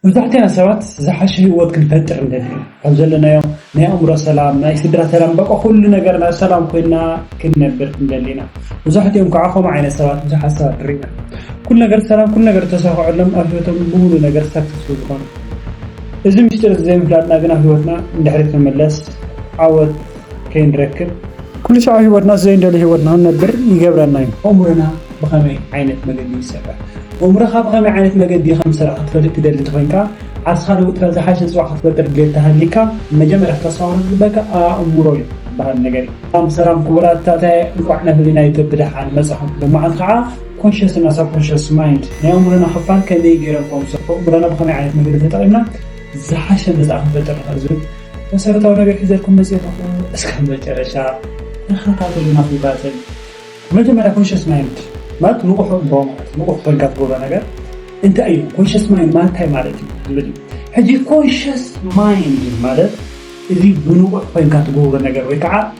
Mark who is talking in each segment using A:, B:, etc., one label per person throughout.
A: መብዛሕትና ሰባት ዝሓሸ ህይወት ክንፈጥር ንደሊ ኢና። ካብ ዘለናዮ ናይ ኣእምሮ ሰላም፣ ናይ ስድራ ሰላም በቃ ኩሉ ነገርና ሰላም ኮይና ክንነብር ክንደሊ ኢና። መብዛሕትኦም ክኣ ከምኡ ዓይነት ሰባት ብዙሓት ሰባት ሪኢና። ኩሉ ነገር ሰላም ኩሉ ነገር ዝተሳከዐሎም ኣብ ህይወቶም ብሙሉ ነገር ሳክሰስፉል ዝኮኑ። እዚ ምሽጢር እዚ ዘይምፍላጥና ግን ኣብ ህይወትና ንድሕሪት ክንምለስ ዓወት ከይንረክብ፣ ኩሉሻዕ ህይወትና ዘይንደልዮ ህይወት ንኽንነብር ይገብረና እዩ። ኣእምሮና ብኸመይ ዓይነት መገዲ እዩ ዝሰርሕ? ኣእምሮኻ ብኸመይ ዓይነት መገዲ ከም ዝሰርሕ ክትፈልጥ ትደሊ እንተኾይንካ፣ ዓርስኻ ለዊጥካ ዝሓሸ ጽባሕ ክትፈጥር ድሌት እንተሃልይካ፣ መጀመርያ ክተስተውዕሎ ዝግበኣካ ኣእምሮ እዩ ዝበሃል ነገር እዩ። ሰላም ሰላም ክቡራት ታታየ እንቋዕ ናብ ህሊና ዩቱብ ብደሓን መጻኹም ሎማዓንቲ ከዓ ኮንሸስ እና ሳብ ኮንሸስ ማይንድ ናይ ኣእምሮና ክፋል ከመይ ገይሮም ከም ዝሰርሑ ኣእምሮና ብከመይ ዓይነት መገዲ ተጠቂምና ዝሓሸ መጻኢ ክንፈጥር ንኽእል ዝብል መሰረታዊ ነገር ሒዘልኩም መጽየ ኣለኹ እስከ መጨረሻ ተኸታተሉና ፍሉጣተይ መጀመርያ ኮንሽስ ማይንድ ማለት ንቑሕ እምቦ ማለት ንቑሕ ኮይንካ ትገብሮ ነገር እንታይ እዩ ኮንሽስ ማይንድ ማለት እንታይ ማለት እዩ ዝብል እዩ ሕጂ ኮንሽስ ማይንድ ማለት እዚ ብንቑሕ ኮይንካ ትገብሮ ነገር ወይ ከዓ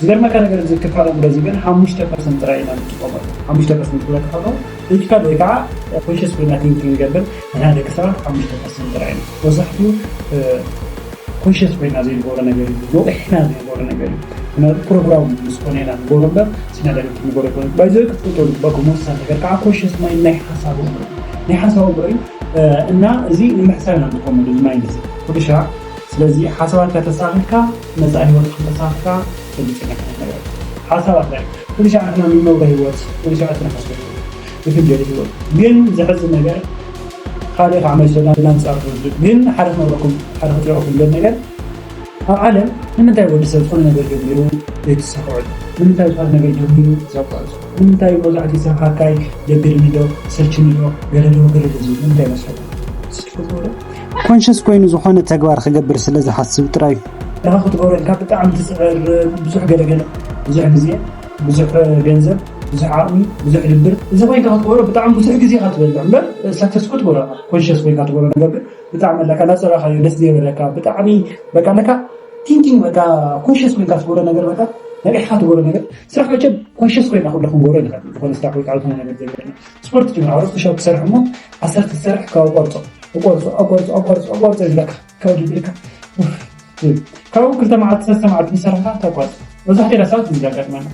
A: ዝገርመካ ነገር እዚ ክፋል ኣእምሮ እዚ ግን ሓሙሽተ ፐርሰንት ጥራይ ኢና ንጥቀመሉ። ሓሙሽተ ፐርሰንት ክብለካ ከለኹ ሎጂካል ወይ ከዓ ኮንሸስ ኮይና ቲንክ ክንገብር ንሕና ደቂ ሰባት ሓሙሽተ ፐርሰንት ጥራይ ኢና። መብዛሕትኡ ኮንሸስ ኮይና ዘይንገብሮ ነገር እዩ። ነቒሕና ዘይንገብሮ ነገር እዩ። ምክንያቱ ፕሮግራም ምስ ኮነ ኢና ንገብሮ እምበር ሲና ዳይሬክት ንገብሮ ኣይኮነን። ባይ ዘ ወይ ክትፈልጦ ዝግበኣኩም ወሳኒ ነገር ከዓ ኮንሸስ ማይንድ ናይ ሓሳብ ኣእምሮ እዩ። ናይ ሓሳብ ኣእምሮ እዩ እና እዚ ንምሕሳብ ኢና ንጥቀመሉ እዚ ማይንድ እዚ። ሕርሻ ስለዚ ሓሳባትካ ተሳኺርካ መጻኢ ሂወት ከም ተሳኺርካ ፈልጥካ ክትነብር ኣለካ ሓሳባት ላይክ ኩሉ ሻዕ ንሕና ንነብሮ ሂወት ኩሉ ሻዕ እቲ ንሓስቦ ሂወት ንፍንጀሊ ሂወት ግን ዘሕዝን ነገር ካልእ ካዓ መልሶ ናንጻር ትወስዱ ግን ሓደ ክነግረኩም ሓደ ክጥይቀኩም ዝደሊ ነገር ኣብ ዓለም ንምንታይ ወዲ ሰብ ዝኾነ ነገር ጀሚሩ ዘይትሳክዐሉ ንምንታይ ዝኾነ ነገር ጀሚሩ ዘቋርጾ ንምንታይ መብዛሕትኡ ሰብ ሃካይ ደብርኒ ዶ ሰልችኒ ዶ ገለ ዶ ገለ ዶ ዝብል ንምንታይ መስለኩም እስኪ ትፈልጥዎ ዶ ኮንሽስ ኮይኑ ዝኾነ ተግባር ክገብር ስለ ዝሓስብ ጥራይ እዩ። ድኻ ክትገብሮ ኢልካ ብጣዕሚ ትፅዕር ብዙሕ ገለገለ ብዙሕ ግዜ ብዙሕ ገንዘብ ብዙሕ ዓቕሚ ብዙሕ ድብር እዚ ኮይንካ ክትገብሮ ብጣዕሚ ብዙሕ ግዜ ኢኻ ትበልዕ እምበር ሰክሰስ እኮ ትገብሮ ኢኻ ኮንሽስ ኮይንካ ትገብሮ ነገር ግን ብጣዕሚ ኣለካ እናፀረኻዮ ደስ ዘይበለካ ብጣዕሚ በቃ ኣለካ ቲንኪንግ በቃ ኮንሽስ ኮይንካ ትገብሮ ነገር በቃ ነቂሕካ ትገብሮ ነገር ስራሕ መቸም ኮንሽስ ኮይና ኩሉ ክንገብሮ ንኽእል ዝኾነ ስራሕ ወይ ካልኦት ነገር ዘይኮነ ስፖርት ጅግና ኣውርስ ፑሻፕ ክሰርሕ እሞ ዓሰርተ ክሰርሕ ካብ ቆርፆ እቆርፆ ኣቆርፆ ኣቆርፆ ኣቆርፆ እዩ ዝብለካ ካብ ድብልካ ካብኡ ክልተ መዓልቲ ሰለስተ መዓልቲ ምስ ሰራሕካ ተቋርፅ መብዛሕትኡ ሰባት እዚ ዘጋጥመና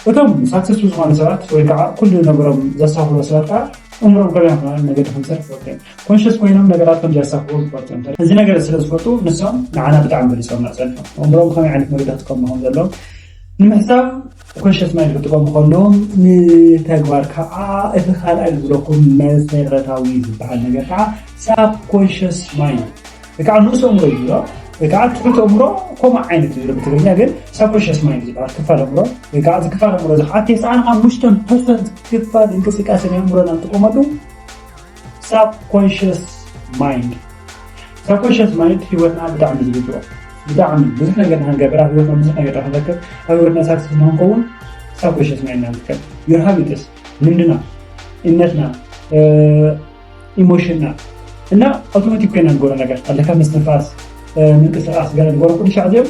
A: እቶም ሳክሰስፉል ዝኾኑ ሰባት ወይ ከዓ ኩሉ ነገሮም ዘሳኽሩ ሰባት ከዓ እምሮም ከመይ ክኾነ መገዲ ከምሰርሕ ዝፈልጡ እዮም ኮንሽስ ኮይኖም ነገራት ከም ዘሳኽሩ ዝፈልጡ እዮም እዚ ነገር ስለ ዝፈልጡ ንሶም ንዓና ብጣዕሚ በሊፆምና ፀኒሖም እምሮም ከመይ ዓይነት መገዲ ክጥቀሙ ከም ዘለዎም ንምሕሳብ ኮንሸስ ማይንድ ክጥቀሙ ከለዎም ንተግባር ከኣ እቲ ካልኣይ ዝብለኩም መሰረታዊ ዝበሃል ነገር ከዓ ሳብ ኮንሸስ ማይንድ ወይ ከዓ ንኡስ ኣእምሮ እዩ ዝብሎ ወይ ከዓ ትሑት ኣእምሮ ከምኡ ዓይነት ዝብሎ ብትግርኛ ግን ሳብ ኮንሸስ ማይንድ ዝበሃል ክፋል ኣእምሮ ወይ ከዓ እዚ ክፋል ኣእምሮ እዚ ከዓ ቴስዓን ሓሙሽተን ፐርሰንት ክፋል እንቅስቃሴ ናይ ኣእምሮና ንጥቀመሉ ሳብኮንሽስ ማይንድ ሳብኮንሽስ ማይንድ ሂወትና ብጣዕሚ ዝግዝኦ ብጣዕሚ ብዙሕ ነገር ንክንገብር ኣብ ሂወትና ብዙሕ ነገር ንክንረክብ ኣብ ሂወትና ሳክስስ ንክንከውን ሳብኮንሽስ ማይንድና ንጥቀም ዮር ሃቢትስ ልምድና እምነትና ኢሞሽንና እና ኣውቶማቲክ ኮይና ንገብሮ ነገር ኣለካ ምስትንፋስ ምንቅስቃስ ገለ ንገብሮ ኩሉ ሻዕ እዚኦም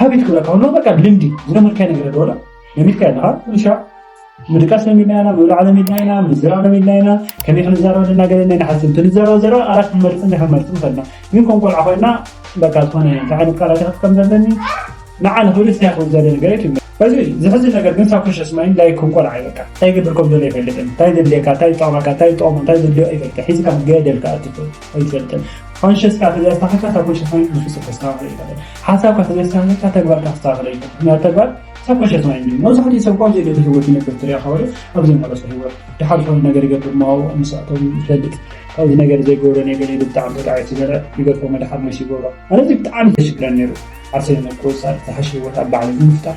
A: ሀቢት ክብላ ከሆነ በቃ ልምዲ ዝለመድካይ ነገር ደወላ ለሚድካ ኣለካ ንሻ ምድቃስ ለሚድና ኢና ምብላዕ ለሚድና ኢና ምዝራዕ ለሚድና ኢና ከመይ ክንዛረብ ዘለና ገለ ናይ ንሓስብ እንትንዛረብ ዘረባ ኣራት ክንመርፅ እንታይ ክንመርፅ ንኽእልና ግን ከም ቆልዓ ኮይና በቃ ዝኾነ እንታይ ዓይነት ቃላት ክጥቀም ዘለኒ ንዓ ንኽብል ስታይ ክብል ዘለ ነገር እዩ እዚ ዝሕዝን ነገር ግን ሳብ ክሸስ ማይን ላይ ከም ቆልዓ እዩ በቃ እንታይ ግብር ከም ዘሎ ይፈልጥን እንታይ ዘድልየካ እንታይ ጠቕመካ እንታይ ጠቕሙ እንታይ ዘድልዮ ይፈልጥ ሒዝካ ገደልካ ኣትፍል ኣይትፈልጥን። ኮንሸስካ ተዘየስተኻኸልካ ሳብኮንሸስ ማይንድ ብፍፁም ከስተኻኽሎ ኣይኽእልን። ሓሳብካ ተዘየስተኻኸልካ ተግባርካ ከስተኻኽሎ ኣይኽእልን። ምኽንያቱ ተግባር ሳብኮንሸስ ማይንድ እዩ። መብዛሕትኡ ሰብ እኳ ኣብ ዘይደለ ህይወት ይነብር ትሪኦ ካብ ወዲቕ ኣብ ዘይመረፆ ህይወት ድሓር ዝኾነ ነገር ይገብር እሞ ምስ ኣቶ ይፈልጥ ካብዚ ነገር ዘይገብሮ ነገር ኢሉ ብጣዕሚ ተጣዒሱ ዘረ ይገድፎ መድሓር መሲ ይገብሮ ኣነ እዚ ብጣዕሚ ዘሽግረን ነይሩ ዓርሰይ ምቁፅፃር ዝሓሸ ህይወት ኣብ ባዕለይ ንምፍጣር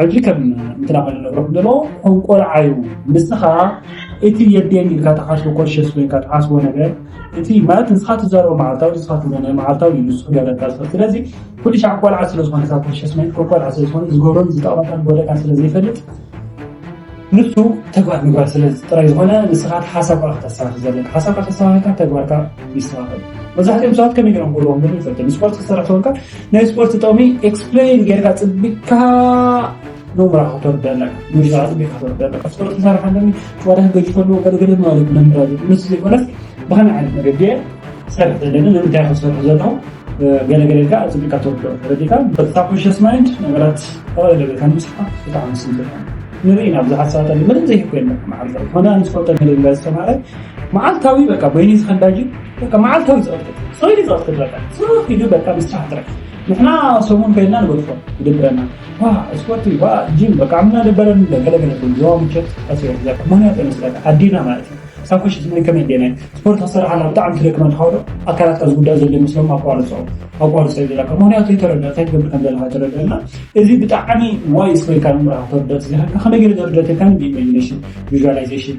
A: ሕጂ ከም እንትናኸ ንነግሮ ንሎ ከም ቆልዓ እዩ ንስኻ እቲ የድየን ኢልካ ተሓስቦ ኮሸስ ኮይንካ ተሓስቦ ነገር እቲ ማለት ንስኻ ትዛረቦ መዓልታዊ ንስኻ ትብሎ ናይ መዓልታዊ እዩ ንሱ ገለታ ስለዚ ኩሉ ሻዕ ቆልዓ ስለ ዝኾነ ካብ ኮሸስ ኮይንካ ቆልዓ ስለ ዝኾነ ዝገብሮን ዝጠቕመካን ጎደካን ስለ ዘይፈልጥ ንሱ ተግባር ምግባር ስለ ጥራይ ዝኾነ ንስኻ ሓሳብካ ክተሳኺ ዘለካ ሓሳብካ ተሳኺካ ተግባርካ ይስተኻኸል መብዛሕትኦም ሰባት ከመይ ገይሮም ክብልዎም ግን ይፈልጥ ስፖርት ክሰርሕ ተበልካ ናይ ስፖርት ጥቕሚ ኤክስፕሌን ጌርካ ፅቢቅካ ኖምራ ክትወርድ ኣለካ ሙዚቃ ፅቢቅካ ክትወርድ ኣለካ ስፖርት ክሰርሕ ኣለኒ ጨዋታ ክገጅ ከለዎ ገለገለ ማለት መምህራ ምስ ዘይኮነስ ብኸመይ ዓይነት መገዲ እየ ክሰርሕ ዘለኒ ንምንታይ ክሰርሑ ዘለኹ ገለገለ ኢልካ ፅቢቅካ ትወርዶ ተረዲእካ በሳኮንሽስ ማይንድ ነገራት ተቐለለ ቤልካ ንምስልካ ብጣዕሚ ስም ዘለካ ንርኢ ናብ ብዙሓት ሰባት ኣለ ምንም ዘይኮይነ መዓልታዊ ኮነ ኣንስፖርት ገለገለ ዝተማሃረ መዓልታዊ በቃ በይኒ ዝኸንዳጅ በቃ መዓልታዊ ፀወታ ሰውዲ ፀወታ በቃ ስሩት ይዱ በቃ ምስራሕ ጥራሕ ንሕና ሰሙን ከይድና ንበልፎ ይደብረና ዋ ስፖርት ዋ ጂም በቃ ምና ደበረን ገለገለ ዋ ምቸት ኣስዮ ምክንያት መስለካ ኣዴና ማለት እዩ ሳኮሽ ዝመይ ከመይ ዴና ስፖርት ክሰርሓና ብጣዕሚ ትደክመን ካውዶ ኣካላትካ ዝጉዳእ ዘሎ ይመስሎም ኣቋርፆ ኣቋርፆ ይብለካ ምክንያቱ ይተረድእ እንታይ ትገብር ከም ዘለካ ተረድእና እዚ ብጣዕሚ ዋይ ስበልካ ንምራ ተርድእ ስለካ ከመይ ገለ ተርድእተካ ኢማጂኔሽን ቪዥዋላይዜሽን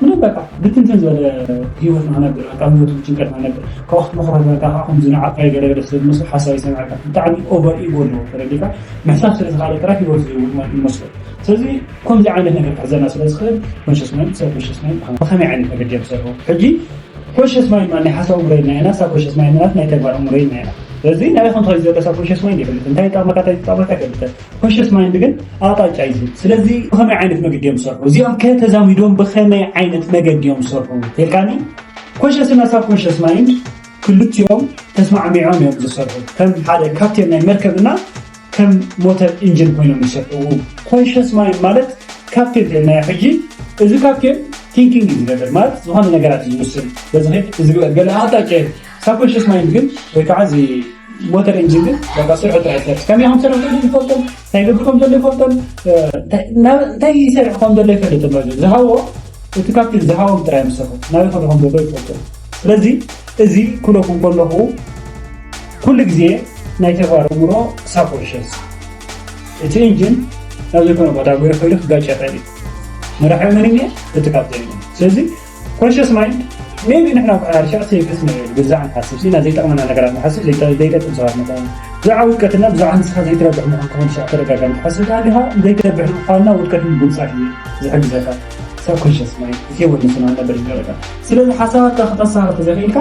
A: ምንም በቃ ብትንትን ዝበለ ህይወት ንክነብር ካብ ህይወት ጭንቀት ንክነብር ካብ ወቅቲ መክሮትካ ከዓ ከምዚ ንዓካ ይገደገደ ስለዝመስሎ ሓሳብ ይሰምዐካ ብጣዕሚ ኦቨር ኢጎ ኣለዎ ተረዲካ ምሕሳብ ስለዝካለ ጥራሕ ህይወት ዝህውት ማለት ይመስሎ ስለዚ ከምዚ ዓይነት ነገር ክሕዘና ስለዝክእል ኮንሽስ ማይንድ ሰብ ኮንሽስ ማይንድ ብከመይ ዓይነት መገዲ እዮም ዝሰርሑ ሕጂ ኮንሽስ ማይንድ ማለት ናይ ሓሳብ እምሮ ኢልና ኢና ሳብ ኮንሽስ ማይንድ ማለት ናይ ተግባር እምሮ ኢልና ኢና ስለዚ ናበይ ከምትኸይድ ዘለካ ኮንሽስ ማይንድ ይፈልጥ እንታይ ይጠቅመካ እንታይ ዝጠቅመካ ይፈልጥ ኮንሸስ ማይንድ ግን ኣቕጣጫ እዩ ዝህብ። ስለዚ ብኸመይ ዓይነት መገዲ እዮም ዝሰርሑ እዚኦም ከ ተዛሚዶም ብኸመይ ዓይነት መገዲ እዮም ዝሰርሑ ተልካኒ ኮንሸስ እና ሳብ ኮንሸስ ማይንድ ክልቲኦም ተስማዕሚዖም እዮም ዝሰርሑ ከም ሓደ ካፕቴን ናይ መርከብ እና ከም ሞተር ኢንጂን ኮይኖም ይሰርሑ። ኮንሽስ ማይንድ ማለት ካፕቴን ተልናዮ ሕጂ እዚ ካፕቴን ቲንኪንግ እዩ ዝገብር ማለት ዝኾነ ነገራት እዩ ዝውስን በዚ ኸይድ እዚ ገለ ኣቕጣጫ ሳብኮንሸስ ማይንድ ግን ወይ ከዓ እዚ ሞተር ኢንጂን ግን በቃ ስርሑ ጥራሕ ይሰርሕ ከመይ ከም ዝሰርሕ ዘሎ ይፈልጦን እንታይ ገብር ከም ዘሎ ይፈልጦን እንታይ ይሰርሕ ከም ዘሎ ይፈልጥ ኣሎ ዝሃቦ እቲ ካብቲ ዝሃቦም ጥራይ ምሰርሑ ናበይ ከዶ ከም ዘሎ ይፈልጡ ስለዚ እዚ ኩለኩም ከለኹ ኩሉ ግዜ ናይ ተግባር እምሮ ሳብኮንሸስ እቲ ኢንጂን ናብ ዘይኮነ ቦታ ጉረ ከይዱ ክጋጭ ይኽእል እዩ መራሒ መን እየ እቲ ካብዘ ስለዚ ኮንሽስ ማይንድ ሜቢ ንሕና ርሻዕ ሴክስ ብዛዕ ንሓስብ ሲና ዘይጠቕመና ነገራት ንሓስብ ዘይጠቅም ሰባት ንኾኑ ብዛዕ ውድቀትና ብዛዕ ንስኻ ዘይትረብሕ ምዃን ክኾን ሻዕ ተደጋጋሚ ትሓስብ ዳኣ ዲኻ ዘይትረብሕ ምዃንና ውድቀት ምጉንፃሕ እዩ ዝሕግዘካ ሰብ ኮንሽስ ማይንድ ሂወት ንስና ነበር ይገረካ ስለዚ ሓሳባትካ ክተሳርፍ ዘይኽእልካ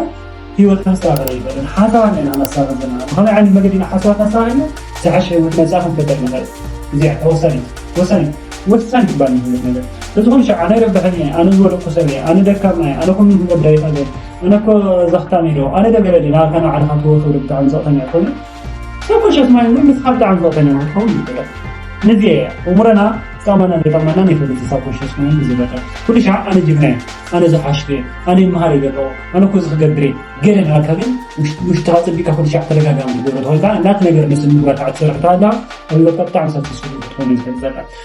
A: ህይወት ከንሳብር ኣይፈልን ሓሳባት ኢና ነሳብር ዘለና ብኸመይ ዓይነት መገዲ ኢና ሓሳባት ኣሳቢርና ዝሓሸ ህይወት መጻኢ ክንፈጥር ንኸእል እዚኣ እታ ወሳኒት ወሳኒት ወሳኒ ትባል ንህይወት ነገር በዝኾነ ሻዕ ኣነ ይረብሐኒ እየ ኣነ ዝወደቅኩ ሰብ እየ ኣነ ደካማ እየ ኣነ ከምዚ ክገብር ኣይኽእልን ኣነ እኮ ዘኽታም እየ ዶ ኣነ ዶ ገለ ድየ ናባካ ንባዕልኻ ትወትወሉ ብጣዕሚ ዘቕተኛ ኮይኑ ሸኮሸት ማይ እውን ምስ ሓንቲ ዓንቀው ኮይና ክትኸውን ይኽእል። ነዚ እየ ኣእምሮና ክጠቕመናን ከይጠቕመናን ይፈልጥ ዝሳብ ኮሸስ ማይ ምስ ዝበልዕ ኩሉ ሻዕ ኣነ ጅግና እየ፣ ኣነ ዝሓሽኩ እየ፣ ኣነ ይመሃር እየ ዘለኹ፣ ኣነ እኮ እዚ ክገብር እየ ገለ እናበልካ ግን ውሽጥኻ ኣጸቢቕካ ኩሉ ሻዕ ተደጋጋሚ ክትገብሮ ተኾይንካ ናቲ ነገር ንስምጉራታዕ ትሰርሕ እንተሃልኻ ኣብ ህይወትካ ብጣዕሚ ሳክሰስፉል ክትኮን እየ ዝፈልጥ ዘለኹ።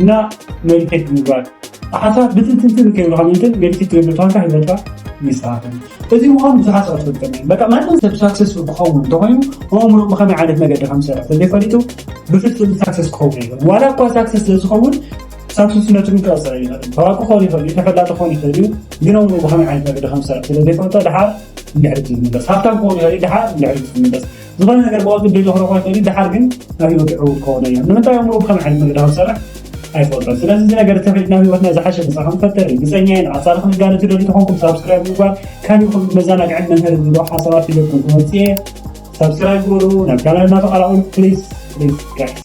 A: እና ሜዲቴት ምግባር ሓሳብ ብትንትንትን ከይብልካ ምንትን ሜዲቴት ትገብር ተኾንካ ሂወትካ ይስተኻኸል እዚ ምዃኑ ብዙሓት ሰባት ፈልጠም በቃ ማንም ሰብ ሳክሰስፉል ክኸውን እንተኾይኑ ኣእምሮ ብኸመይ ዓይነት መገዲ ከም ዝሰርሕ ተዘይፈሊጡ ብፍጹም ሳክሰስ ክኸውን ይኽእል ዋላ እኳ ሳክሰስ ስለዝኸውን ሳክሰስነቱ ግን ክቐፅል ይኽእል ታዋቂ ክኸውን ይኽእል እዩ ተፈላጢ ክኸውን ይኽእል እዩ ግን ኣእምሮ ብኸመይ ዓይነት መገዲ ከም ዝሰርሕ ስለዘይፈልጦ ድሓር ንድሕሪት ዝምለስ ሃብታም ክኸውን ይኽእል እዩ ድሓር ንድሕሪት ዝምለስ ዝኾነ ነገር ብቐልጡ ብደይ ተኽረኾ ኣይክእልን ደሓር ግን ኣብ ህይወት ዕውት ክኾነ እዮም ንምንታይ ኣእምሮ ብከመይ ዓይነት መገዲ ከም ዝሰርሕ ኣይፈልጦን ስለዚ እዚ ነገር ተኺድ ናብ ህይወትና ዝሓሸ ምሳኻ ንፈጥር ርግፀኛ እየ ንቐፃሊ ክንጋነ ትደልዩ ተኾንኩም ሳብስክራይብ ምግባር ካብ ይኹን መዘናግዕን መምሀርን ዝብሎ ሓሳባት ሒዘልኩም ክመፅእ እየ ሳብስክራይብ ግበሩ ናብ ቻናልና ተቐላቐሉ ፕሊዝ ፕሊዝ ጋይስ